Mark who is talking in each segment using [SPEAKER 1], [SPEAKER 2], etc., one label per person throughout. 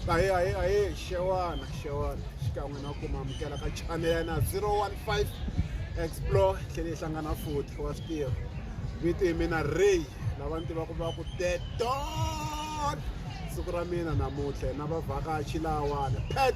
[SPEAKER 1] ahee ahee ahee xewani xewani xikan'we na ku mamukela ka chanele ya na 015 explore tlhele yi hlangana futhi wa swi tiva vito hi mina ray lava ni tivaka va ku deton siku ra mina namuntlha na vavhakachi lawani pet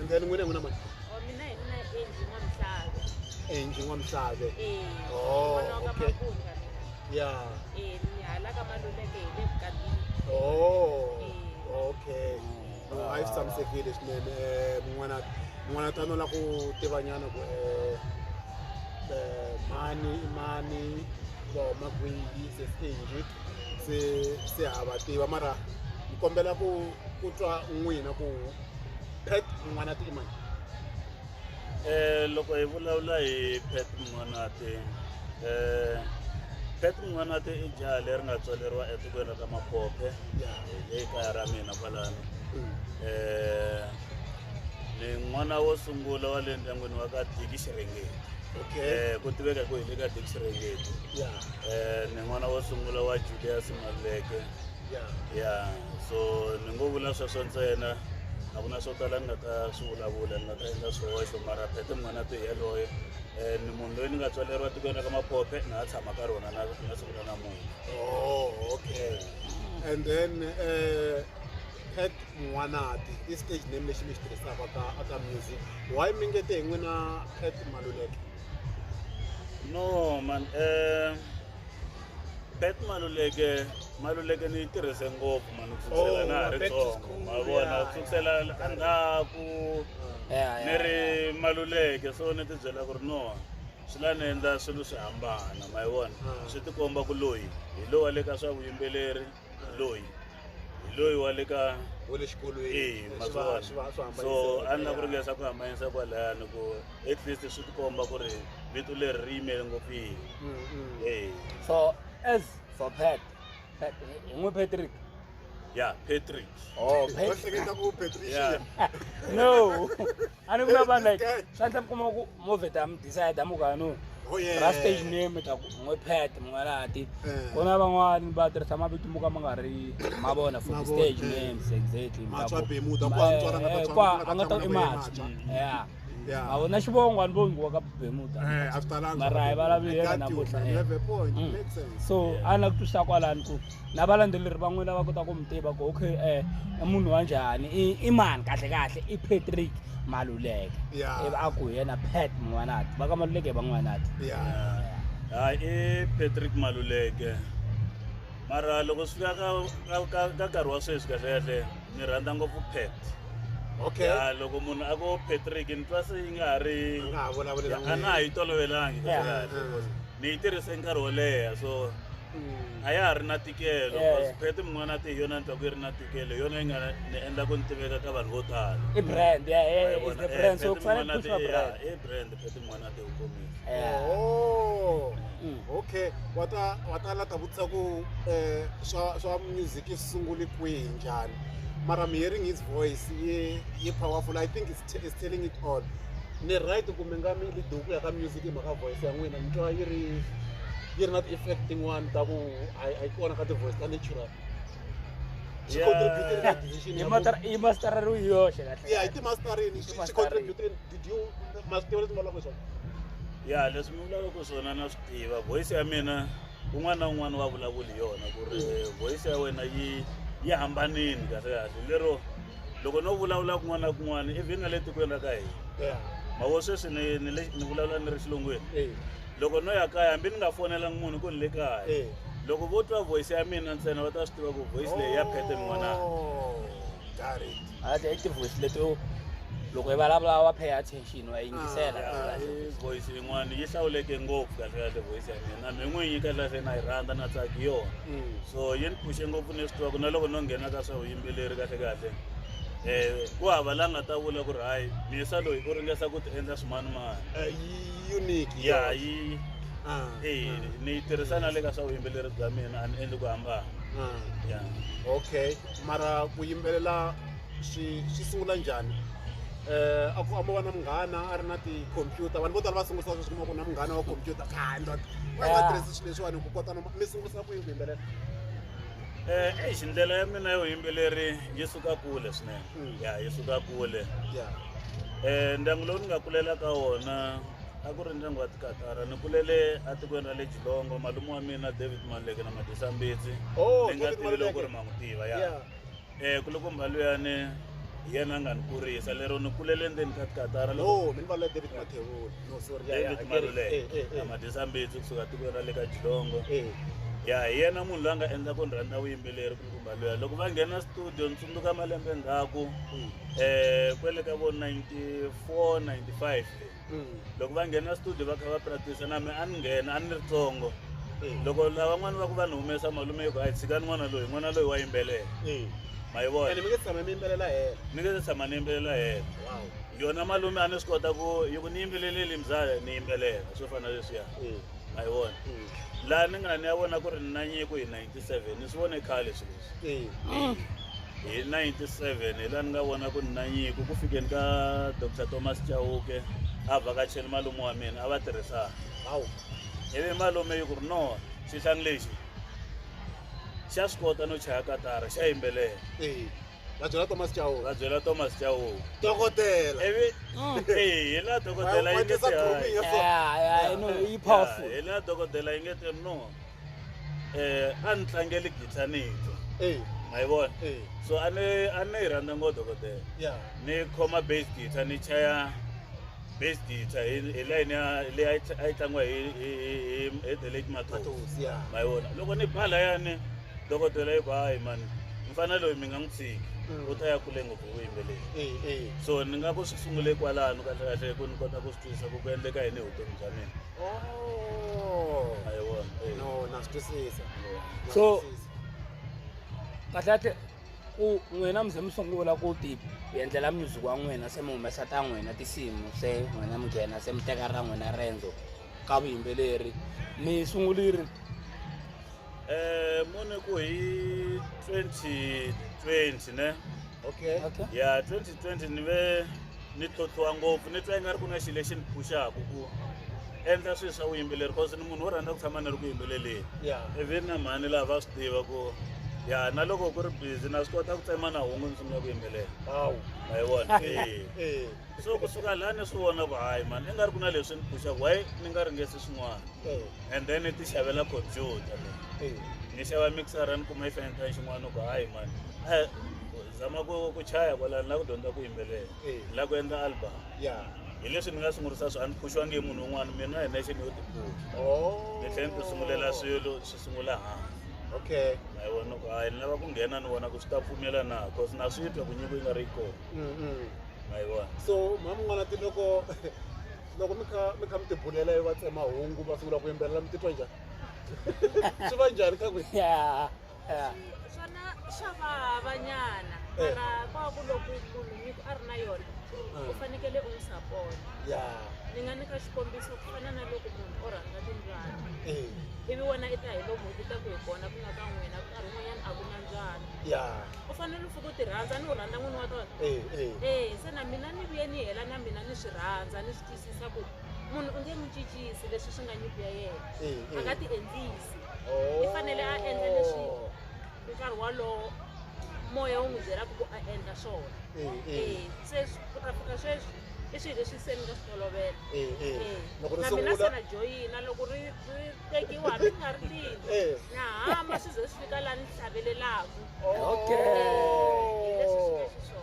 [SPEAKER 1] and then n'wina n'wina mani Oh, mina hi mina
[SPEAKER 2] Angie N'wamusave.
[SPEAKER 1] enji n'wamisave Eh, Oh, n'wana
[SPEAKER 2] wa ka okay. Mabunda
[SPEAKER 1] mina. ya Eh, ni hala ka Maluleke hi le Bukabini. oh okay no a yi swi tshamisekile swinene Eh, n'wana n'wana ta nola ku tivanyana ku eh, eh, mani i mani va huma kwihi se se njhe se se ha va tiva mara ni kombela ku ku twa n'wina ku pet mun'wanati i mani um
[SPEAKER 3] loko hi vulavula hi pet mun'wanati um pet mun'wanati i jaha leri nga tswaleriwa etikweni ra ka mapope le kaya ra mina kwalano um ni n'wana wo sungula wa le ndyangwini wa ka diki xirhengeti okay um ku
[SPEAKER 1] tiveka hi ku hi le ka
[SPEAKER 3] diki xirhengeti ya um ni n'wana wo sungula wa julius maluleke ya ya so ni ngo vula sweswo ntsena a ku na swo tala ni nga ta swi vulavula ni nga ta endla swihoxo mara phete munghana to yaloye um ni munhu loyi ni nga tswaleriwa tikweni ra ka maphophe na ha tshama ka rona na na siku ra namuntlha oh
[SPEAKER 1] okay and then um pet n'wanati i stage name lexi mi xi tirhisaka ka aka music why mi nge te hi n'wina pet maluleke
[SPEAKER 3] no man um bet maluleke maluleke ni yi tirhise ngopfu mani ku sukusela na ha ri tsongo ma vona ku sukusela endzhaku ni ri maluleke so ni tibyela ku ri no swi la ni endla swilo swi hambana ma yi vona swi tikomba ku loyi hi lowa le ka swa vuyimbeleri loyi hi loyi wa le ka wa le xikolweni
[SPEAKER 1] eyi ma swi vona so
[SPEAKER 3] a ni na ku ringesa ku hambanyisa kwalayani ku at least swi tikomba ku ri vito leri ri yimele ngopfu yini eyi so
[SPEAKER 4] as for pat pat hi n'wi patrick ya
[SPEAKER 3] patrick oh pat
[SPEAKER 4] ehleketa ku patricia
[SPEAKER 1] Yeah.
[SPEAKER 3] no
[SPEAKER 4] a ni vula vanhu like swi endla mi kuma ku move ta mi decide mi ka no oh, ra stage
[SPEAKER 1] name ta ku
[SPEAKER 4] n'we pet mun'walati eh. ku na van'wani va tirhisa mavito mo ka ma nga ri ma vona for stage names exactly
[SPEAKER 1] eh, a nga ta i matswa
[SPEAKER 4] ya a wu na xivongo ni vongi wa ka bemuda eh, mara
[SPEAKER 1] hi vulavula yena
[SPEAKER 4] namuhla
[SPEAKER 1] so a na ku twisa
[SPEAKER 4] kwalani ku na valandzeleri van'we lava kota ku mi tiva ku okay eh, i munhu wa njhani i mani kahle kahle i patrick maluleke ivi a ku yena pat mun'wanati va ka maluleke hi van'wanati hayi
[SPEAKER 3] i patrick maluleke mara loko swi fika ka nkarhi wa sweswi kahle kahle ni rhandza ngopfu pat okay ya
[SPEAKER 1] loko munhu
[SPEAKER 3] a ko patrick ni twa se yi nga ha ri a na ha yi tolovelangi ni yi tirhise nkarhi wo leha so a ya ha ri na tikelo Yeah. because phete mun'wana a te hi yona ni twa ku yi ri na tikelo hi yona yi nga ni endla ku ni tiveka ka vanhu vo tala i brand ya ya
[SPEAKER 4] Wa yi is vona? the Eh, brand so Phete ku fanele Mun'wana ku te, pushwa brand yeah, i brand phete mun'wana
[SPEAKER 3] a te u komile Yeah. Oh,
[SPEAKER 1] Mm. okay wa ta wa ta lata vutisa ku eh, swa swa music yi sungule kwihi njhani mara i'm hearing his voice yi yi powerful i think it's till is telling it all ni right ku mi nga mi li duku ya ka music mhaka voice ya n'wina mi twa yi ri yi ri na ti-effect tin'wana ta ku a yi kona ka ti-voice ta natural i mastara ri yi yoxe ya hi timastarini xi contribute did you ma swi tiva leswi
[SPEAKER 4] mi vulavulaka
[SPEAKER 1] swona ya leswi
[SPEAKER 3] mi vulavulaka swona na swi tiva voice ya mina un'wana na un'wana wa vulavuli yona ku ri voice ya wena yi yi hambanini kahle kahle lero loko no vulavula kun'wana na kun'wana even na le tikweni ra ka hina ma vo sweswi ni ni le ni vulavula ni ri xilungwini loko no ya kaya hambi ni nga fonelangi munhu ku ni le kaya loko vo twa voice ya mina ntsena va ta swi tiva ku voice leyi ya phete n'wanana
[SPEAKER 1] oh, ate i ti-voice leto
[SPEAKER 4] loko i vulavula wa pay attention wa yingisela ah, voice
[SPEAKER 3] yin'wana yi hlawuleke ngopfu kahlekahle voice ya mina mi n'wi yi kahlekahle na yi rhandza na tsaki yona mm. so yi ni phuxe ngopfu ni swi tiva ku na loko no nghena ka swa vuyimbeleri kahle kahle um ku hava la nga ta vula ku ri hayi miyisa loyi u ringesa ku ti endla swimanimani Eh, yi unique
[SPEAKER 1] ya yona. yi
[SPEAKER 3] Ah, eyi ah, ni yi tirhisa na le ka swa vuyimbeleri bya mina a ni endli ku hambana ah. ya okay
[SPEAKER 1] mara ku yimbelela swi swi sungula njhani eh a ku ambo va na munghana a ri na tikhompyuta vanhu vo tala va sungulisa sweswi kuma ku na munghana wa khompyuta khandwa va nga Ah. tirhisi swilo leswiwani ku kota no mi sungulisa ku yini ku yimbelela Eh, eish
[SPEAKER 3] ndlela ya mina yo yimbeleri yi suka kule swinene Mm. ya yi suka kule ya Eh, ndyangu lowu ni nga kulela ka wona a ku ri ndyangu wa tikatara ni kulele etikweni ra le jilongo malume wa mina david maleke na madisambitsi Oh, ni nga David tivi loko Maluleke. ri ma n'wi tiva ya ya Eh, ku loko mhali yani hi yena a nga ni kurisa lero ni kulele endzeni ka tikatara loko no mi ni valula david
[SPEAKER 1] mathevula no sorry ya ya David hakeri. Maluleke Eh, eh, eh. amadisa mbitsi
[SPEAKER 3] kusuka tikweni ra le ka jilongo Eh, ya hi yena munhu loyi a nga endla ku ni rhandza vuyimbeleri ku kumba loya loko va nghena studio ni tsundzuka malembe ndzhaku mm. um kwele ka vo 94 95 le loko va nghena studio va kha va practice na mi a ni nghena a ni ri tsongo loko lavan'wana va ku va ni humesa malume yi ku a hi tshikani n'wana loyi n'wana loyi wa yimbelela ma yi vona
[SPEAKER 1] ni nge se tshama ni yimbelela
[SPEAKER 3] hena yona malume a ni swi kota ku yi ku ni yimbeleleli mzala ni yimbelela swo fana leswiya ma yi vona laha ni nga ni ya vona ku ri ni na nyiko hi ninety seven ni swi vone khale swilo Ee. Mm. hi 97 hi laha ni nga vona ku ni na nyiko ku fikeni ka dr thomas chauke a vhakacheli malume wa mina a va tirhisana Hawu. ivi malume yi ku ri no xihlangi lexi xa swi kota no chaya katara xa yimbelela Ee. Va
[SPEAKER 1] byela Thomas Chauke. va byela thomas chauke
[SPEAKER 3] Dokodela. ivi
[SPEAKER 1] Mm.
[SPEAKER 3] ee hi laha dokodela yi nge Van'wanyisa grooming ya so. Yeah, yeah,
[SPEAKER 4] I know, yi powerful. hi laha dokodela yi
[SPEAKER 3] nge te no eh a ni tlangeli guitar ni yi twa Eh, ma yi vona eh, so a ni a ni yi rhandza ngo dokodela yeah. ni khoma bass guitar ni chaya bass guitar hi hi line ya leyi a yi tla- a yi tlangiwa hi hi hi- hi hi the late matosi Matosi, yeah. ma yi vona loko ni ba layani dokodela yi ku hayi mani mfana loyi mi nga n'wi tshiki Mm. u ta ya kule ngopfu vuyimbeleri Eh, eh. so ni nga ku swi sungule kwalano kahlekahle ku ni kota ku swi twisisa ku ku endleka yini hi vutomi bya mina Oh. Ayewona. eh. No, na swi twisisa.
[SPEAKER 1] Na So- swi
[SPEAKER 4] twisisa. kahle kahle ku n'wina mi ze mi sungula ku ti endlela music wa n'wina se mi humesa ta n'wina tinsimu se n'wina mi nghena se mi teka ra n'wina rendzo ka vuyimbeleri mi sunguliri Eh,
[SPEAKER 3] mune ku hi 2020 ne Okay. okay
[SPEAKER 1] ya 2020
[SPEAKER 3] ni ve ni tlhontlhiwa ngopfu ni twa i nga ri ku na xilo lexi ni phuxaku ku endla swilo swa vuyimbeleri cause ni munhu wo rhandza ku tshama ni ri ku yimbeleleni even na mhani laha va swi tiva ku ya na loko ku ri busy na swi kota ku tsema na hungu ni sungula ku yimbelela hawu ma yi vona e so kusuka laha ni swi vona ku hayi mani i nga ri ku na leswi ni phuxaku why ni nga ringesi swin'wana and then ni ti xavela computer ni xava mixera ni kuma yi fanekani xin'wana ku hayi mani zama ku ku chaya kwalani la ku dyondza ku yimbelela Eh. la ku endla album ya hi leswi ni nga sungurisa swi a ni phuxiwangi hi munhu un'wana mina hi nexe ni yo tiphula oh ni tlhela ni ti sungulela swilo swi sungula hansi okay ma yi
[SPEAKER 1] vona ku hayi
[SPEAKER 3] ni lava ku nghena ni vona ku swi ta pfumela na cause na swi twa ku nyiko yi nga ri yi kona mm -mm. ma yi vona so mhani mun'wana ti
[SPEAKER 1] loko loko mi kha mi kha mi tibulela yi va tsemahungu va sungula ku yimbelela mi titwa njhani swi va njhani ka ku Yeah. eh. swona
[SPEAKER 2] swa vahavanyana eh. mara kwa ku loko munhu nyiko a ri na yona u fanekele u n'wi sapota ni nga nyika xikombiso ku fana na loko munhu o rhandza timbyana ivi wena i ta hi lomu u ta ku hi kona ku nga ka n'wina ku karhi un'wanyana a ku na mbyana u fanele u fika u ti rhandza ni u rhandza n'wini wa tona ee se na mina ni vuye ni hela na mina ni swi rhandza ni swi twisisa ku munhu u nge n'wi cincisi leswi swi nga nyiko ya yena a nga ti endlisi i fanele a endla leswi nkarhi walowo moya wu n'wi byelaka ku a endla swona e se ku ta fika sweswi i swilo leswi se ni nga swi tolovela na mina se na joyina loko ri ri tekiwa hambi ni nga ri lini na hama swi ze swi fika laha ni hlavelelaku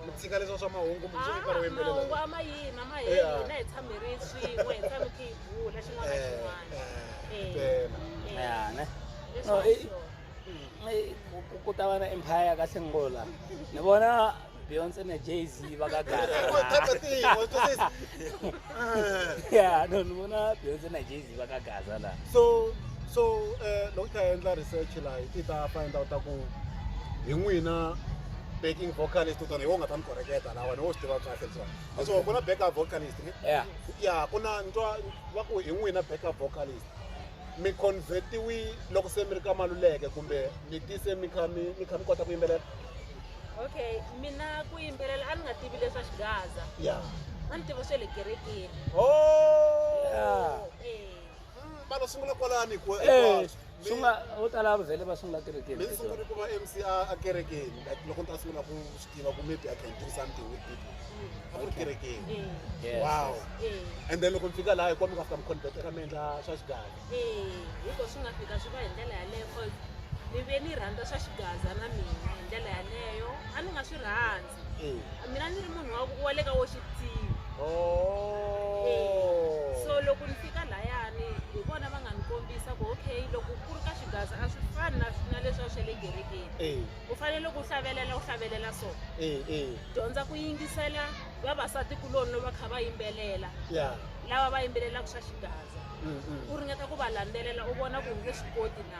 [SPEAKER 1] mitsika leswa swa mahungu mitsika ro yimbelela mahungu a ma yima ma
[SPEAKER 2] hina hi tshamerile swin'we hi tshame vula xin'wana na xin'wana Eh, eh, eh, eh. ya ne Leswi no i- sure.
[SPEAKER 4] Mm. i- ku- ku- ku ta va na empire ka sengula ni vona beyonce na jay z va ka ya no ni vona beyonce na jay z va ka gaza laha so so
[SPEAKER 1] eh, loko hi ta endla research laha hi ti ta find out ku hi n'wina backing vocalist u tona hi wo nga ta ni koreketa lawa ni wo swi tiva kahle leswaku a so ku na backup vocalist ne yeah ya ku na ntwa va ku hi n'wina backup vocalist mi convertiwi loko se mi ri ka maluleke kumbe mi tise mi kha mi mi kha mi kota ku yimbelela okay
[SPEAKER 2] mina ku yimbelela a ni nga tivi leswa xigaza ya a ni tiva swe le kerekeni oh Yeah. Eh,
[SPEAKER 1] vana sungula kwalani ku eh sungula
[SPEAKER 4] vo tala va vhele va sungula kerekeni mi sungula ku va MC
[SPEAKER 1] a kerekeni like loko ni ta sungula ku swi tiva ku maybe I can do something with people a ku ri kerekeni wow and then loko mi fika laha hikuva mi nga fika mi converteka mi endla swa xigaza hikuva swi
[SPEAKER 2] nga fika swi va hi ndlela yaleyo cause ni ve ni rhandza swa xigaza na mina hi ndlela yaleyo a ni nga swi rhandzi Eh. mina ni ri munhu wa ku- wa le ka wo xitivi Oh. so loko ni fika layani hi vona va nga ni kombisa ku okay loko ku ri ka xigaza a swi fani na na leswiwa swa le kerekeni Eh, u fanele loko u hlavelela u hlavelela so eh, eh. dyondza ku yingisela vavasati kuloni loko va kha va yimbelela Yeah. lava va yimbelelaka swa xigaza Mm, mm. u ringeta ku va landzelela u vona ku nge swi koti na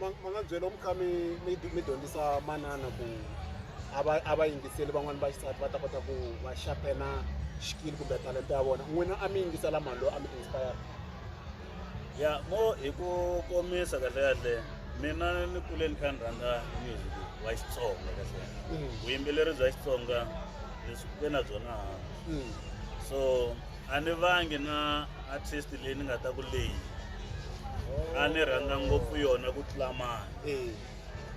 [SPEAKER 1] ma ma nga byela mi kha mi mi mi dyondzisa manana ku a va a va yingiseli van'wani va xisati va ta kota ku va xapena xikili kumbe talenta ya vona n'wina a mi yingisela mhani loyi a mi inspire
[SPEAKER 3] ya mo hi ku komisa kahle kahle mina ni kule ni kha ni rhandza music wa xitsonga kahle vuyimbeleri bya xitsonga ni swi kuke na byona so a ni vangi na artist leyi ni nga ta ku leyi a ni rhandza ngopfu yona ku tlula mani Eh,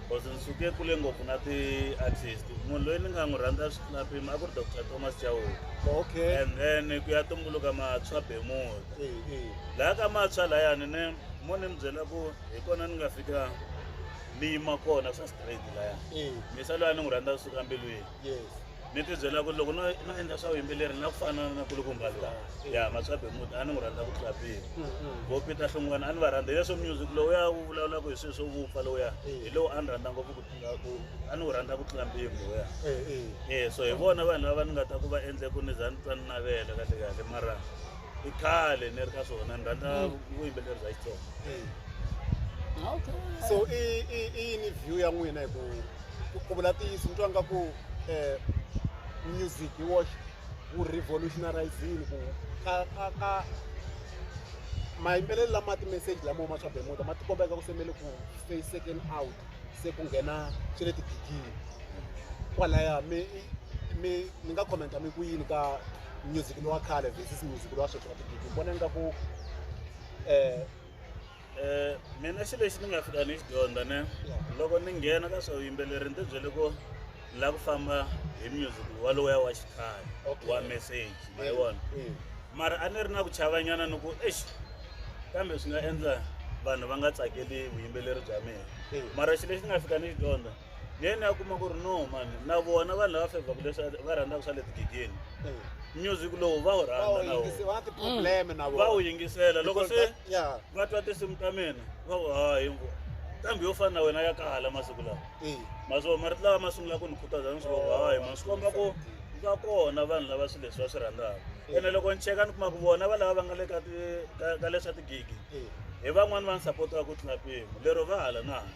[SPEAKER 3] cause ni suke kule ngopfu na ti-artist munhu loyi ni nga n'wi rhandza swi tlula mpimo a ku ri dr thomas chawuka okay and then ku ya tumbuluka matshwa bemuda Eh, eh. laha ka matshwa layani ne mo ni mi byela ku hi kona ni nga fika ni yima kona swa straight laya Eh, misa loyi a ni n'wi rhandza kusuka mbilwini yes ni ti byela ku loko no no endla swa vuyimbeleri na ku fana na kulukumba lowa ya matswabe muti a ni n'wi rhandza ku tlula mpimo vo peter hlungwana a ni va rhandza hi leswo music lowuya wu vulavulaka hi swilo swo vupfa lowuya hi lowu a ni rhandza ngopfu ku tlula ku a ni wu rhandza ku tlula mpimo lowuya e so hi vona vanhu lava ni nga ta ku va endle ku ni za ni twa ni navela kahle kahle mara i khale ni ri ka swona ni rhandza vuyimbeleri bya xitsonga so i i
[SPEAKER 1] i yini view ya n'wina hi ku ku vula ntiyiso ni twa nga ku eh, music hi woxe wu revolutionarizini ku ka ka ka mayimbelelo lama timeseji lamo ma swa bemuda ma tikombeka ku semele ku stay second out se ku nghena swe le tigigini kwalaya mi mi ni nga commenta mi ku yini ka music lowa khale versus music lowa sweswi wa tigigini vona ingaku um eh,
[SPEAKER 3] Eh, mina xilo lexi ni nga fika ni xi dyondza ne loko ni nghena ka swa vuyimbeleri ni ti byele ku ni lava ku famba hi music waloya wa xikhaya Okay. wa message ma yi vona Mm. mara a ni ri na ku chavanyana ni ku exi kambe swi nga endla vanhu va nga tsakeli vuyimbeleri bya mina Mm. mara xilo lexi ni nga fika ni xi dyondza ni yena ya kuma ku ri no mani na vona vanhu lava fevhaku leswi va rhandzaka swa le tigigeni music lowu va wu rhandza na wona va wu yingisela loko se va twa tinsimu ta mina va ku hayi mbo kambe yo fana na wena ya kala masiku lawa maswo marito lawa ma sungula ku ni khutaza ni swi va hayi ma swi komba ku va kona vanhu lava swilo leswi va swi rhandzaka ene loko ni cheka ni kuma ku vona valava va nga le ka ti ka ka leswa tigigi hi van'wani va ni sapotaka ku tlula mpimo lero va hala na hala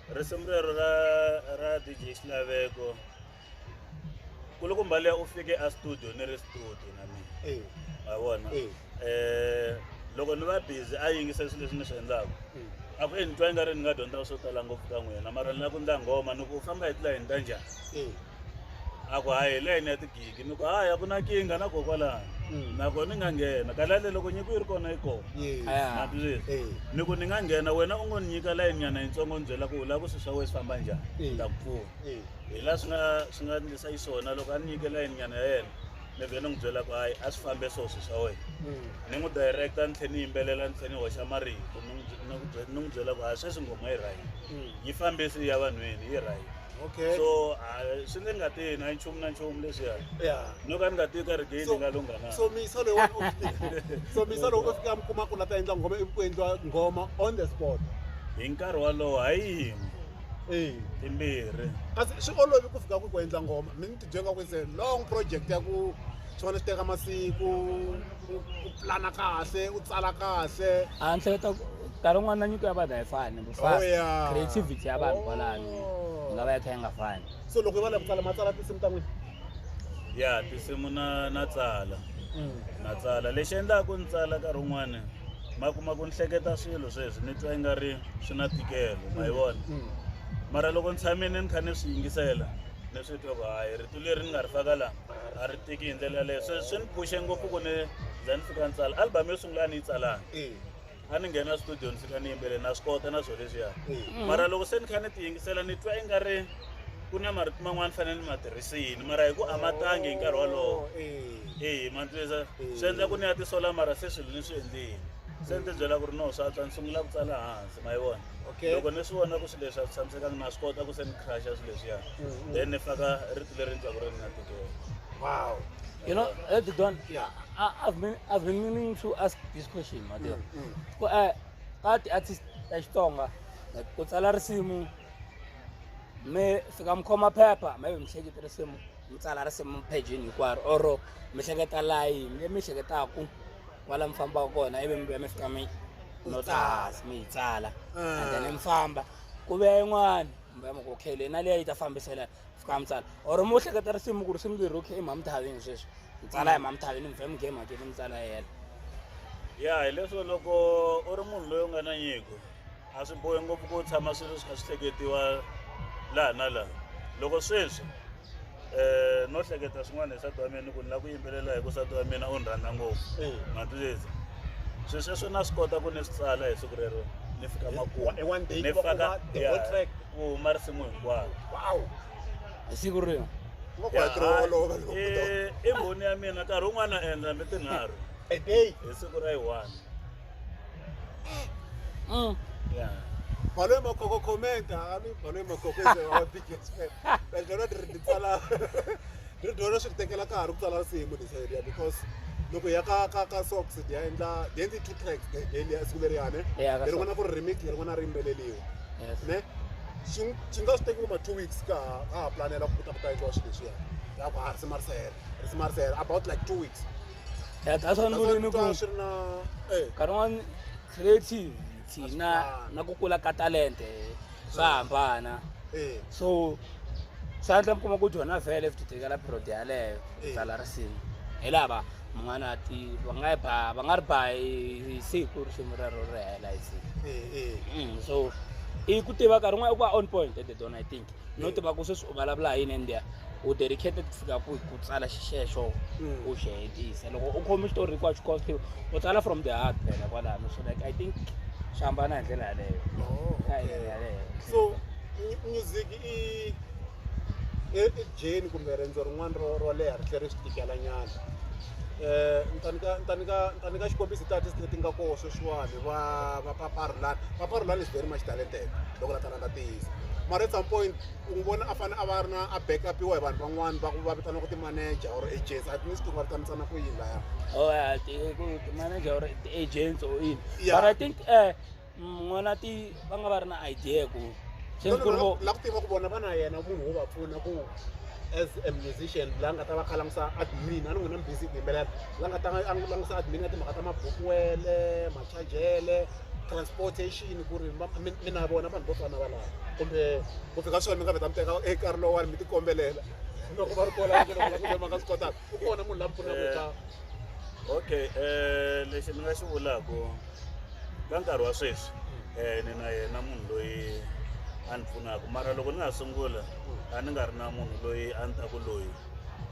[SPEAKER 3] risimu rero ra ra dj xilaveko kulukumba leya u fike a studio ni ri studio na mina eh. wa vona um eh. loko ni va busy a yingisa swilo leswi ni swi endlaka eh. a ku e ni twa i nga ri ni nga dyondzaka swo tala ngopfu ka n'wina mara ni la ku ndla nghoma ni ku u famba hi tilayini ta njhani a ku hayi hi layini ya tigigi ni ku hayi a ku na kinga na kokwalani Mm. na ko ni nga nghena kalale loko nyiko yi ri kona yi kona Yes. Ah. na twisisa Eh. ni ku ni nga nghena wena u ngo ni nyika layini nyana yitsongo ni byela ku u lava ku swi swa wena swi famba njhani Eh. ni ta ku pfuna Eh. hi laha swi nga swi nga ndlisa xiswona loko a ni nyike layini nyana ya yena ni vhele ni n'wi byela ku hayi a swi fambe swo swi swa wena Mm. ni n'wi directa ni tlhela ni yimbelela ni tlhela ni hoxa marito ni n'wi bye- ni n'wi bye- ni n'wi byela ku hayi sweswi nghoma yi rhayini Mm. yi fambisi ya vanhwini yi rhayini okay so uh, swi ni nga tihi na nchumu na nchumu leswiya yeah no ka ni nga tihi ka ri gezi So- nga lunghana so misa loyi wa- u
[SPEAKER 1] fika- so misa loyi u fika mi kuma ku la ta endla nghoma ivi ku endliwa nghoma on the spot hi nkarhi
[SPEAKER 3] walowo hayi yin'we ee timbirhi kasi swi
[SPEAKER 1] olovi ku fika ku ku endla nghoma mi ni jenga ku se long project ya ku swona swi teka masiku u pulana kahle u tsala kahle a ni hleketa
[SPEAKER 4] nkarhi wun'wana na nyiko ya vanhu a yi fani oh, creativity ya vanhu kwalani oh. nga va ya kha yi nga fani so loko yi va la ku tsala ma
[SPEAKER 1] tsala tinsimu ta n'wina ya
[SPEAKER 3] tinsimu na na tsala mm. na tsala lexi endlaku ni tsala nkarhi wun'wana ma kuma ku ni hleketa swilo sweswi ni twa yi nga ri swi na tikelo ma yi mm. vona mm. mara loko ni tshamile ni kha ni swi yingisela leswi twa ku hayi rito leri ni nga ri faka laha a ri tiki hi ndlela yaleyo swi swi ni phuxe ngopfu ku ni za ni fika ni tsala album yo sungula a ni yi tsalanga Eh, a ni nghena studio ni fika ni yimbele na swi kota na swo leswiya mara loko se ni kha ni ti yingisela ni twa i nga ri ku na marito man'wana ni fanele ni ma tirhisini mara hi ku a ma tangi hi nkarhi wolowo oh, eh. eyi mantlisa swi endla ku ni ya tisola mara se swilo ni swi endlile se ni ti byela ku ri no swa tswa ni sungula ku tsala hansi ma yi vona okay loko ni swi vona ku swilo leswi a swi tshamisekanga na swi kota ku se ni crusha
[SPEAKER 1] swilo
[SPEAKER 4] leswiya mm-hmm. then ni faka rito leri ni twaku ri ni na titwela wow you know at the don yeah I, i've been i've been meaning to ask this question mateo mm, mm. ku eh ka ti artist ta xitsonga ku tsala risimu mi fika mi khoma phepha maybe mi hleketa risimu mi tsala risimu pejini hinkwaro or mi hleketa layini leyi mi hleketaku kwala mi fambaka kona ivi mi vuya mi fika mi no tsahasi mi yi tsala Ah. and then mi famba ku vuya yin'wani mi vuya mi ku okay leyi na liya yi ta fambisela fika mi tsala or mi hleketa risimu ku risimu leri okay i mamthavini sweswi mi tsala hi mamthavini mi vuya mi game hakeli mi tsala yena ya
[SPEAKER 3] hileswo loko u ri munhu loyi u nga na nyiko a swi bohi ngopfu ku tshama swilo swi kha swi hleketiwa laha na laha loko sweswi eh, no hleketa swin'wana hi sati wa mina ni ku ni la ku yimbelela hi ku sati wa mina u ni rhandza ngopfu Eh. matwisisa swi sweswo na swi kota ku ni swi tsala hi siku rero ni fika makumu Hi one day ni ku va ku faka va the ya, whole track. ku huma risimu hinkwaro wow
[SPEAKER 4] hi siku rero ku va ku Ya, hakeriwa olova loko
[SPEAKER 3] eh, i mbhoni ya mina nkarhi wun'wana na endla hambi tinharhu a day hi siku ra yi one Mm. Yeah.
[SPEAKER 1] Balo e makoko comment ha mi balo e makoko ese wa big expert. But lero ri ri tsala ri dona swi tekela ka ha ri ku tsala nsimu this area because loko ya ka ka ka socks di ya endla di endli two tracks de de liya siku leriya ne. Yeah, ka Leri n'wana ku ri remix leri n'wana ri yimbeleliwa. Yes. Ne? Xi xi nga swi teki ma two weeks ka ha ka ha planela ku ta ku ta endliwa xilo lexiya. Ya ku ha ri simarisela ri simarisela about like two weeks. ya ta swa
[SPEAKER 4] ni vule ni ku Twa swi ri na eh nkarhi wun'wani creative thina na ku kula ka talente swa hambana eh so swa endla mi kuma ku jona vhele futhi tekela period yaleyo Eh. tsala risimu hi lava mun'wana a ti va nga yi ba va nga ri ba hi hi siku risimu rero ri hela hi siku eh eh Mm, so i ku tiva nkarhi wun'wana i ku va on point at the dona i think no tiva ku sweswi u vulavula hi yini and u dedicated ku fika ku ku tsala xexo mm. u xi hetisa loko u khome xitori hinkwaxo xi costiwe u tsala from the heart phela kwalano so like i think xi hambana hi ndlela yaleyo oh, so
[SPEAKER 1] music i ejeni kumbe rendzo rin'wana ro ro leha ri tlhela ri swi tikelanyana Eh, ntanika xikombiso tiartist leti nga koho sweswiwani va va paparulani paparulani is very much talented loko la nga tiyisa mara at some point u n'wi vona a fanele a va ri na a back upiwa hi vanhu van'wani va va vitana ku ti-manager or agents at least va vitanisana ku yini laya oh yeah ti ku ti manager
[SPEAKER 4] or ti agents or in Yeah. but i think eh n'wana ti va nga va ri na idea ku se No, no, ku ri no, vo la
[SPEAKER 1] ku tiva ku vona va na yena munhu wo va pfuna ku as a musician la nga ta va kha langusa admin a ni n'wina mi busy ku yimbelela la nga ta a langusa admin ya timhaka ta mabukwele machajele transportation ku ri ma- mi mi na vona vanhu vo fana va lava kumbe ku fika swona mi nga vheta mi teka e nkarhi lowani mi tikombelela loko va ri kola va vona ku ma nga swi kotaka u kona munhu la mi pfunaka Eh. eka okay
[SPEAKER 3] eh lexi ni nga xi vulaku ka nkarhi wa sweswi eh ni na yena munhu loyi a ni pfunaka mara loko ni nga sungula a ni nga ri na munhu loyi a ni ta ku loyi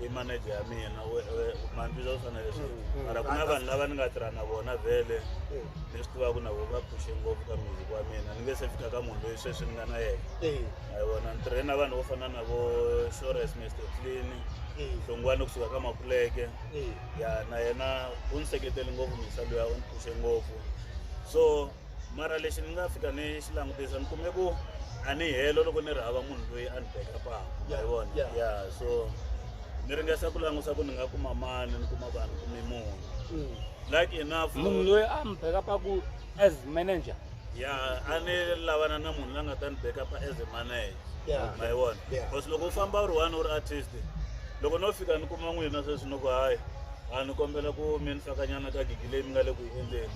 [SPEAKER 3] i manager ya mina we- we- mandlisa u fanele swi Mm, mm. mara ku na vanhu lava ni nga tirha na vona vhele Eh, ni swi tivaka na vona va phushe ngopfu ka music wa mina ni nge se fika ka munhu loyi sweswi ni nga na yena eh, a hi vona ni tirhe na vanhu vo fana na vo shores mr clean eh, hlongwani kusuka ka makuleke eh. ya na yena u ni seketele ngopfu misa luya u ni phushe ngopfu so mara lexi ni nga fika ni xi langutisa ni kume ku a ni helo loko ni ri hava munhu loyi a ni bekapaka Yeah, hi vona yeah. ya so ni ringesa ku langusa ku ni nga kuma mani ni kuma vanhu kume munhu Mm. like enough munhu loyi a mi
[SPEAKER 4] bekapaku as manager ya a
[SPEAKER 3] ni lavana na munhu la nga ta ni bekapa as a manager Yeah. ma yi vona Yeah. because loko u famba u ri one u ri artist loko no fika ni kuma n'wina sweswi ni ku hayi a ni kombela ku mi ni fakanyana ka gigi leyi mi nga le ku yi endleni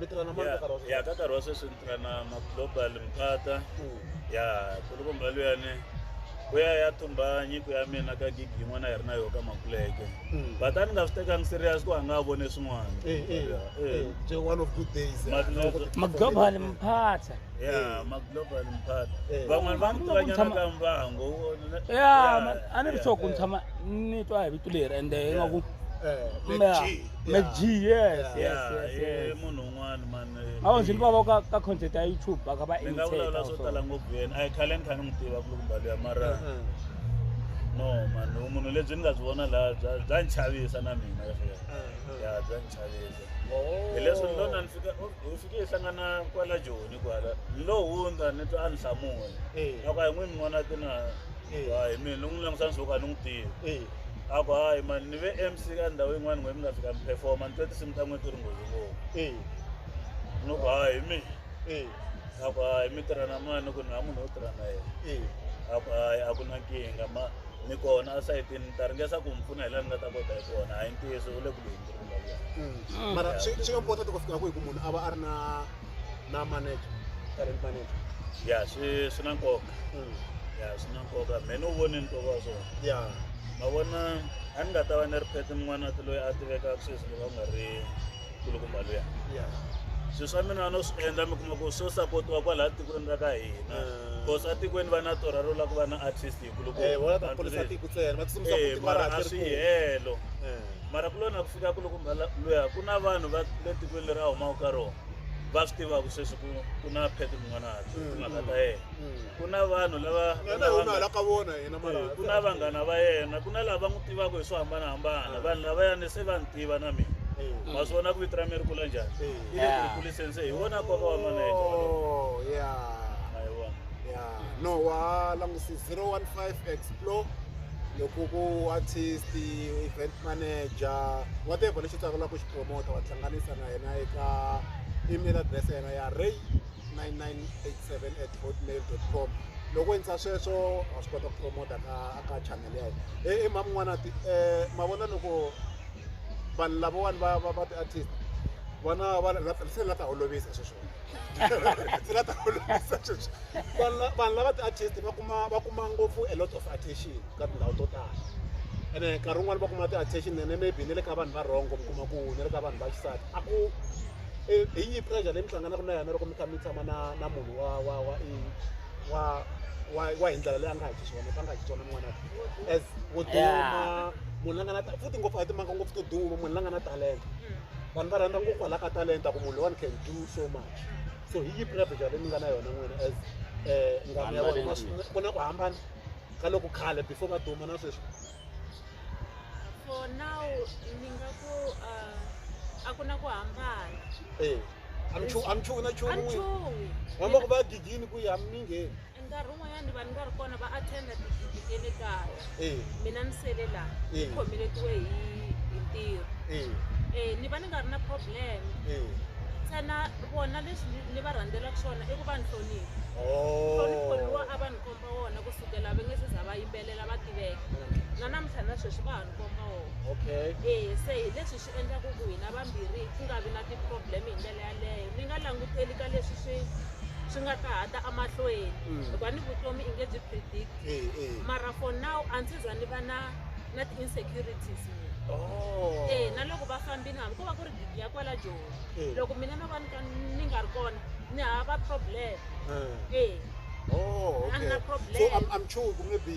[SPEAKER 1] mi tirha na mani ka nkarhi wa ya sweswi ka nkarhi wa sweswi ni tirha
[SPEAKER 3] na maglobal mphata Mm. ya kulukumba luyani ku ya ya thumba nyiko ya mina ka gigi yin'wana yi ri na yo ka makuleke Mm. but a ni nga swi tekangi serious ku a nga ha vone swin'wana Eh, eh, Ya, eh, eh.
[SPEAKER 1] nje one of good days eh, Mali- loko ti- maglobal
[SPEAKER 4] mphatha ya
[SPEAKER 3] maglobal mphata Eh. van'wana va ni Ku nga ku tivanyana tshama- ka mbango ya ma-
[SPEAKER 4] a ni ri sure ku ni tshama ni twa hi vito leri ende ingaku Eh, Mbeya. G. Mac G, yes, yes, Yeah, yes, i yes. munhu
[SPEAKER 3] un'wana mani Awu nje niba boka
[SPEAKER 4] ka content ya YouTube baka ba ni nga imitate. vulavula swo tala
[SPEAKER 3] ngopfu yena a yi khale ni kha ni n'wi tiva ku loko mbalo ya mara no mani u munhu lebyi ni nga byi vona laha bya bya ni chavisa na mina ya bya ni chavisa hi leswi ni lona ni fika u- u fike hi hlangana kwala joni kwala ni lo hundza ni twa a ni hlamula loko a hi n'wi ni n'wana tina hi mina ni n'wi langutisa ni swo ka ni n'wi tivi a ku hayi mani ni ve mc ka ndhawu yin'wana n'we mi nga fika mi performa ni twe tinsimu ta n'we ti ri nghozi ngopfu eh ni ku hayi hi mina eh a ku hayi mi tirha na mani ni ku ni ha munhu wo tirha na yena eh a ku hayi a ku na nkingha ma ni kona esayitini ni ta ringesa ku mi pfuna hi laha ni nga ta kota hi kona hayi ntiyiso u le ku lunghi ku ri vulavula mm. mara swi swi
[SPEAKER 1] important ku fika kwihi ku munhu a va a ri na na manager current manager ya swi
[SPEAKER 3] swi na nkoka mm. ya swi na nkoka me ni wu voni nkoka wa swona ya ma vona a ni nga ta va ni ri phethe mun'wana ti loyi a tivekaka sweswi loko a nga ri kulukumba luya ya swi swa mina no swi endla mi kuma ku swo sapotiwa kwalaha tikweni ra ka hina bcause mm. atikweni va na torha ro la ku va na artist Eh, wona ta ponisa tiko tsena va tsutsumisa eh, futhi mara a swi helo eh. mara ku lona ku fika ku loko luya ku na vanhu va le tikweni leri a humaka ka rona va swi tivaka sweswi ku ku na phete mun'wanati mm. timhaka ta yena mm. ku na vanhu lavaku na vanghana va yena ku na lava va n'wi tivaka hi swo hambanahambana ah. vanhu lava yani se va ni tiva na mina mm. ma swi vona ku vito ra mi ri kula njhani i le ku ri kuliseni se hi wona nkoka wa maneja oh,
[SPEAKER 1] no wa langusi 015 explore loko ku artist event manager whatever lexi tsakelaka ku xi promota wa hlanganisa na yena eka email address ya yena ya ray 9987 at hotmail com loko endla sweswo wa swi kota ku promota ka ka channel ya yena e mhami n'wana ti um mavona loko vanhu lavawani va va va ti-artist vana va se la ta olovisa sweswo ndzi la ta olovisa sweswi vanhu la- vanhu lava ti-artist va kuma va kuma ngopfu a lot of attention ka tindhawu to tala ene nkarhi wun'wani va kuma ti-attention nene maybe ni le ka vanhu va wrong mi kuma ku ni le ka vanhu va xisati a ku eh, hi yihi pressure leyi mi hlanganaka na yona loko mi kha mi tshama na na munhu wa wa wa i- wa wa wa hi ndlela leyi a nga hi xiswona a nga hi xiswona n'wana as wo duma munhu la nga na ta- futhi ngopfu a hi timanga ngopfu to duma munhu la nga na talenta vanhu va rhandza ngopfu hala ka talenta ku munhu loyiwani can do so much so hi yi prepature leyi mi nga na yona n'wina as um ngwani ya vona ku na ku hambana ka loko khale before va duma na sweswi for
[SPEAKER 2] now ni nga ku
[SPEAKER 1] uh, a ku na ku hambana e amchuwi na chuwi n'wina vamba ku va gigini ku yi hami mingheni nkarhi wun'wanyana
[SPEAKER 2] vanhu va ri kona va attenda tidyondzo ta le kaya eh. mina ni sele laha ni eh. khomeletiwe hi hi ntirho eh. eh ni va ni nga ri na problem eh. ntsena vona leswi ni va rhandzelaku swona i ku va ni hlonipha oh. hlonipho
[SPEAKER 1] lowa a va
[SPEAKER 2] ni komba wona ku sukela va nge se za va yimbelela va tiveka na namuntlha na sweswi va ha ni komba wona okay eh se
[SPEAKER 1] hi leswi
[SPEAKER 2] endla ku ku hina vambirhi ku nga vi na ti-problem hi ndlela yaleyo ni nga languteli ka leswi swi swi nga ta hata emahlweni mm. hikuva ni vutomi i nge byi predict eh, eh. mara for now a ndzi za ni va na na ti-insecurities oh. e
[SPEAKER 1] na loko va
[SPEAKER 2] fambini hambi ko va ku ri gigi ya kwala joni loko mina no va nika ni nga ri kona ni hava problem e oh, okay.
[SPEAKER 1] so I'm, I'm sure ku nge be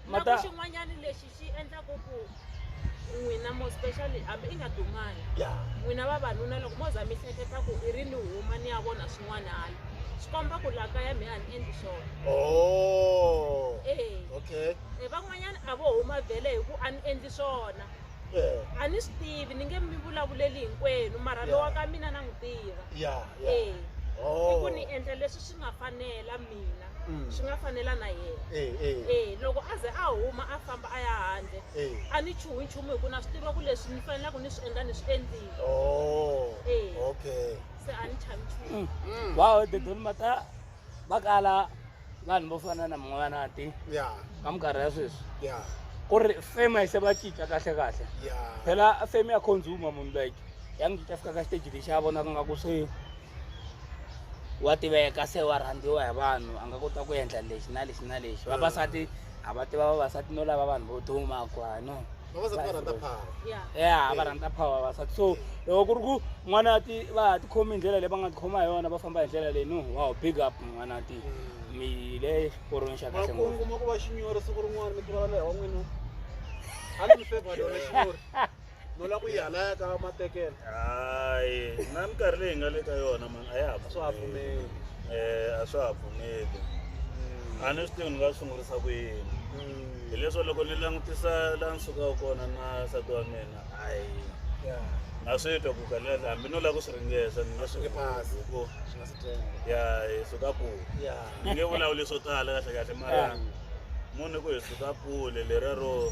[SPEAKER 4] na ku
[SPEAKER 2] Mata- xin'wanyana lexi xi endlaku ku n'wina mo specially hambi i nga dumanga ya n'wina vavanuna loko mo za mi hleketa ku i ri ni huma ni ya vona swin'wana hala swi komba ku laha kaya mi a ni endli swona oh
[SPEAKER 1] ee okay e van'wanyana a
[SPEAKER 2] vo huma vhele hi ku a ni endli swona eh a ni swi tivi ni nge mi vulavuleli hinkwenu mara Yeah. lowa ka mina na n'wi tiva ya ya ee i oh ku ni endla leswi swi nga fanela mina Mm. swi nga fanela na yena Eh, eh, e loko a ze a huma a famba a ya handle eh. a ni chuhi nchumu hi ku na swi tiva ku leswi ni fanelaka ni swi endla ni swi endlile Oh, Eh.
[SPEAKER 1] okay. se a ni
[SPEAKER 2] chavi nchumu Mm. wow dedoni
[SPEAKER 4] mata va kala vanhu vo fana na mun'wanati Yeah, ka minkarhi ya sweswi yeah, ku ri fema yi se va cinca kahle kahle yeah. phela fame ya consumer munhu like ya n'wi cinca fika ka stage lexi a vonaka nga ku se wa tiveka se wa rhandziwa hi vanhu a nga kota ku endla lexi na lexi na lexi vavasati a va tiva vavasati no lava vanhu vo duma ku ha no
[SPEAKER 1] ya va rhandza
[SPEAKER 4] power vavasati so loko ku ri ku n'wana ti va ha tikhomi hi ndlela leyi va nga tikhoma hi yona va famba hi ndlela leyi no wow big up n'wana ti mm. mi le xiporweni xa kahle ngopfu kuma ku va xinyori siku
[SPEAKER 1] rin'wana mi tivala leyi wa n'wina a ni mi fevha yona xinyori no la ku yi halaya ka matekela hayi
[SPEAKER 3] na minkarhi leyi nga le ka yona mani a ya ha swa ha pfumeli um
[SPEAKER 1] a swa
[SPEAKER 3] ha pfumeli a ni swi tivi ni nga sungurisa ku yini mm. hileswo loko ni langutisa la ni sukaka kona na sati wa mina hayi na swi twa ku kalela hambi no lava ku swi ringesa ni nge swi phasi ku
[SPEAKER 1] ya hi suka kule
[SPEAKER 3] ni nge vulavuli swo tala kahle kahle mara munhu ku hi suka kule lera ro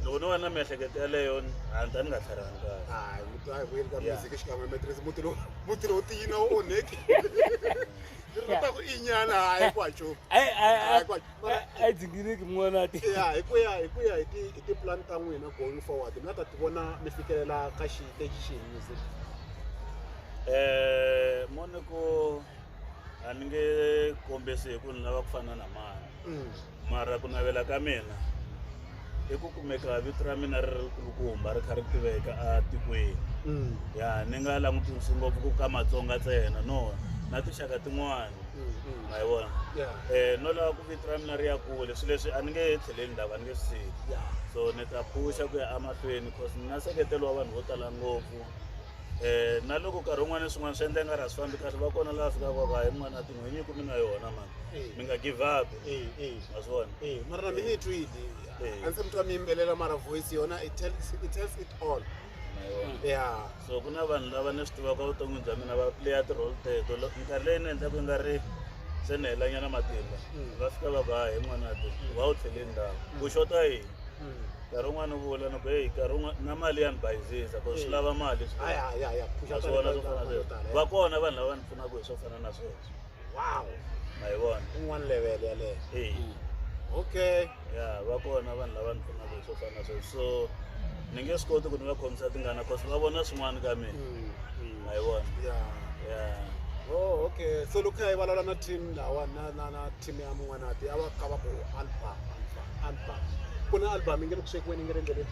[SPEAKER 3] loko no va na miehleketo yaleyo a ni ta ni nga tlharihangi kahle hayi muti a hi vuyeli ka
[SPEAKER 1] Yeah. music xikan'we hi matirhisi muti lowu muti lowu tiyina wu onheki ri ta ku inyana hayi ku hacho Ai- ai- ai- Ai, kwa- ai-
[SPEAKER 4] ai dzingiriki mun'wanati ya hi ku ya hi ku
[SPEAKER 1] ya hi ti hi tipulani ta n'wina going forward mi nga ta ti vona mi fikelela ka xiteji xihi music Eh,
[SPEAKER 3] mone ko a ni nge kombisi hi ku ni lava ku fana na mani Mm. Mara ku navela ka mina i ku kumeka vito ra mina ri ri kulukumba ri kha ri tiveka etikweni Mm. ya ni nga langutisi ngopfu ku ka matsonga ntsena no na tinxaka tin'wana Mm, mm. ma yi vona Yeah. um no lava ku vito ra mina ri ya kule swilo leswi a ni nge tlheleni lava ni nge swi siyi Yeah. so ni ta phuxa ku ya emahlweni cause ni na seketelo wa vanhu vo tala ngopfu um na loko nkarhi wun'wana na swin'wana swi endla i nga ri a swi fambi kahle va kona laha fikaka va va hi n'wana tin'hwinyi ku mi na yona mani Eh. mi nga give up Eh, eh. Azwani. Eh, mara na mina itwi
[SPEAKER 1] idi. Eh. Anse mtwa mimbelela mara voice yona it tells it tells it all. Mayona. Yeah.
[SPEAKER 3] So kuna vanhu lava ni swi tivaka vuton'wini bya mina va playa ti-role teto. Lo- Minkarhi leyi ni endlaka nga ri se ni helanyana matimba. Mm. Va fika va ku ha hi n'wana ti wa wu tlhele ndhawu. Ku xota yini? Mm. Nkarhi wun'wana u vula ni ku heyi nkarhi wun'wana na mali ya ni bayizisa ku swi Eh. lava mali swi Aya ya ya. Kusha swona swo fana na sweswo. Va kona vanhu lava ni pfunaka hi swo fana na sweswo. wow
[SPEAKER 1] ma yi vona
[SPEAKER 3] un'wana level
[SPEAKER 1] yaleyo hey. okay ya va
[SPEAKER 3] kona vanhu lava ni pfunaka swo fana sweswo so ni nge swi koti ku ni va khomisa tingana cause va vona swin'wana ka mina mm, mm. ma yi vona ya ya
[SPEAKER 1] Oh, okay. So look, I will na team na na na na team ya mwana ati awa kaba ko album album album. Kuna album ingekushekweni ngerendele.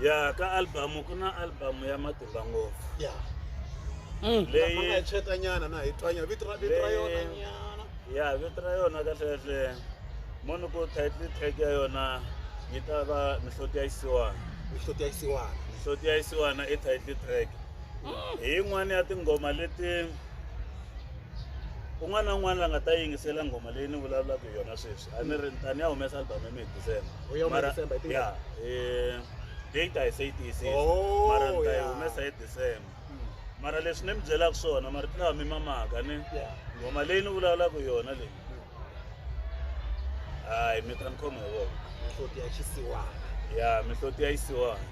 [SPEAKER 1] ya
[SPEAKER 3] ka album ku na album ya matimba ngopfu ya
[SPEAKER 1] Mm. Leyi- Lama nga hi tshweta nyana na hi twanya vito ra vito ra Leyi- yona nyana ya vito ra yona
[SPEAKER 3] kahlekahle moni ku title track ya yona yi ta va mihloti ya isiwana
[SPEAKER 1] mihloti
[SPEAKER 3] ya isiwana
[SPEAKER 1] mihloti
[SPEAKER 3] ya isiwana i title
[SPEAKER 1] track
[SPEAKER 3] hi yin'wana ya tinghoma leti un'wana na un'wana la nga ta yingisela nghoma leyi ni vulavulaka hi yona sweswi a ni ri ni ta ni ya humesa album ya mina december eh, date a yi se yi tiyisisa oh, mara ni ta yi humesa hi december hmm. mara leswi ni mi byelaka swona mara ti lawa mi mamaka ni nghoma leyi ni vulavulaka yona leyi hmm. hayi mi ta ni khoma hi vona mihloti ya
[SPEAKER 1] xisiwana ya mihloti
[SPEAKER 3] ya yisiwana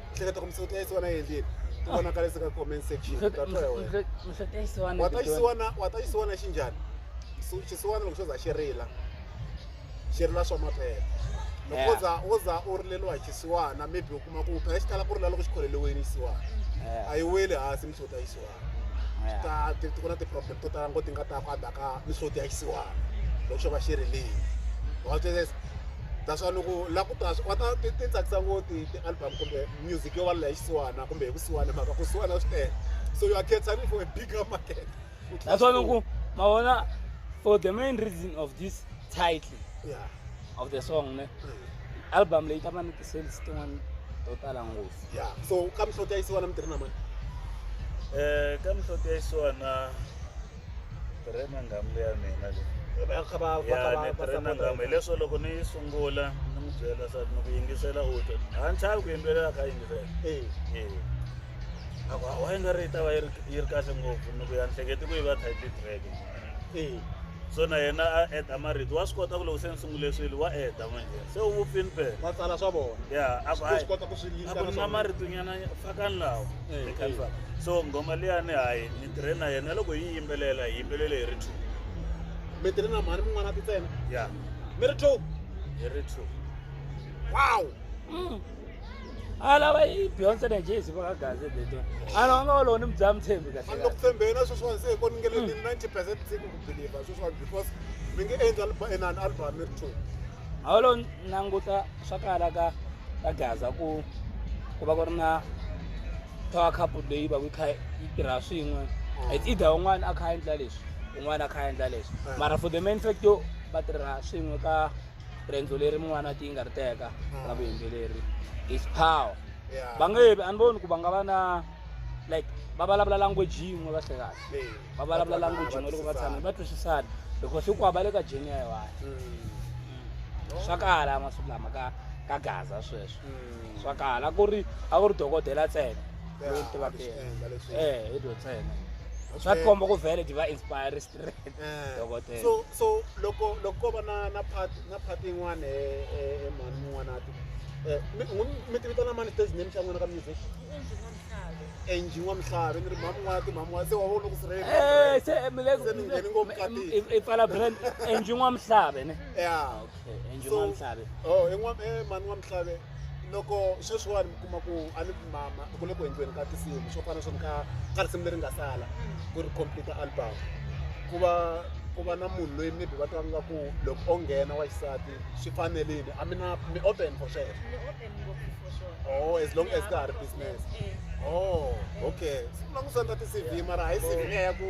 [SPEAKER 1] hleketa ku misava tihlayisiwa na yendlini ti vonakalisa ka comment section ta twa hi wena misa ta yisiwana wa ta xisiwana wa ta xisiwana xi njhani Xi- xisiwana loko xo za xi rila xi rila swa maphela loko wo Yeah. za wo za u rileriwa hi xisiwana maybe u kuma ku phela xi tala ku rila loko xi kholeliweni xisiwana a yi weli hansi misa u ta yisiwana swi ta ti ti ku na ti-problem to tala ngo ti nga ta kwanda ka ni swo ti ya xisiwana loko xo va xi ri leyi wa swi twisisa that's why loko la ku ta wa ta ti ti tsakisa ngo ti ti-album kumbe music yo va la ya xisiwana kumbe hi kusiwana hi mhaka ku siwana swi tele so you are catering for a bigger market Ku tlula that's why swin'wana.
[SPEAKER 4] loko ma vona for the main reason of this title yeah of the song ne album leyi ta va ni ti-sales tin'wana to tala ngopfu ya so ka mihloti ya
[SPEAKER 1] yisiwana mi tirhi na mani um
[SPEAKER 3] ka mihloti ya yisiwana tirhe na ngamu leya mina le Va- kha va- va- ya va- ni va- tirhe na va- ngamu hileswo loko ni yi sungula ni n'wi byela swa ni ku yingisela u twa a ni chavi ku yimbelela kha yingisela Eh, Eh. a ku wa yi nga ri yi ta va yi ri yi ri kahle ngopfu ni ku ya ni hleketi ku yi va title track ee so na yena a eda marito wa swi kota ku loko se ni sungule swilo wa eda manje se u vupini phela va tsala swa vona ya
[SPEAKER 1] a ku Ku hayi swi kota
[SPEAKER 3] ku swi a yingisela ku na
[SPEAKER 1] swona. maritunyana
[SPEAKER 3] fakani lawa Eh, Ni khalisa. eh. so ngoma liyani hayi ni tirhe na yena loko yi yimbelela hi yimbelele hi ri two mi tirhi
[SPEAKER 1] na mhani mun'wana ti tsena ya mi ri
[SPEAKER 3] two
[SPEAKER 1] hi ri
[SPEAKER 3] two
[SPEAKER 1] wow Mm.
[SPEAKER 4] alava i beyonce na jay si vakagaze beto ala va nga va lowo ni mudzaha mutshembi kahle loko tshembeni na sweswiwani
[SPEAKER 1] se hi ko ni nge le ni mm. ninety percent se ku ku believe sweswiwani because mi nge endla inani album mi ri two a va lo
[SPEAKER 4] languta swa kala ka ka gaza ku ku va ku ri na power cup leyi va ku yi kha yi tirha swin'we mm. it's either un'wana a kha a endla leswi un'wana a kha a endla leswi mm. mara for the main fact yo va tirha swin'we ka rendzo leri mun'wana ti nga ri teka hmm. ra vuyimbeleri is power va nge vi a ni voni ku va nga va na like va vulavula language yin'we va hlekahle va vulavula language yin'we loko va tshamile va twisisana because hinkwavo va le ka jeni ya yiwani hmm. swa kala masiku lama ka ka gaza sweswo hmm. swa kala ku ri a ku ri dokodela ntsena loyi tivaka yena e hi dyo ntsena swa tikomba ku vele ti va inspire dokodela so so loko
[SPEAKER 1] loko ko va na na part na part yin'wana e mhani mun'wana ati mi tivita na mani stage name xa n'wina ka music engine wa mihlave ni ri mhani mun'wana ti mhani mun'wana se wa vona ku sirhelelise ni
[SPEAKER 4] ngheni ngopfu
[SPEAKER 1] i pfala brand
[SPEAKER 4] engine wa mihlave ne ya Eh,
[SPEAKER 1] Angel So- Mamhlave.
[SPEAKER 4] oh i n'wa- eh, mhani
[SPEAKER 1] wa mihlave loko sweswiwani mi kuma ku a ni mama ku le ku endliweni ka tinsimu swo fana swona ka ka risimu leri nga sala ku ri computer album ku va ku va na munhu loyi maybe va twa nga ku loko o nghena wa xisati swi fanerile a mi na mi open for sweswo Ni open ngopfu for sure. Oh, as long as Yeah, ka ha ri of course, business. yes, yes. oh okay swi vula ku swi endla ti-cv mara hayi cv liya ya ku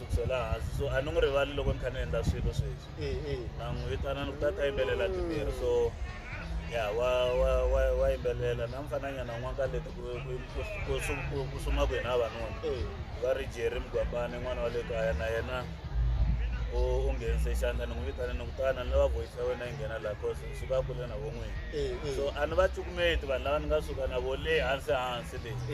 [SPEAKER 3] ku chela hansi so a ni n'wi rivali loko ni kha ni endla swilo sweswi e e na n'wi vitana ni ku ta ta yimbelela timbirhi so ya wa wa wa wa yimbelela na mfananyana n'wana ka leti ku ku ku sum- ku- ku suma ku hina vanuna e va ri jerry mugwambani n'wana wa le kaya na yena u u nghenise xandla ni n'wi vitana ni ku tana ni lava voice ya wena yi nghena laha cause ni suka kule na von'wini e e so a ni va cukumeti vanhu lava ni nga suka na vo le hansi hansi le e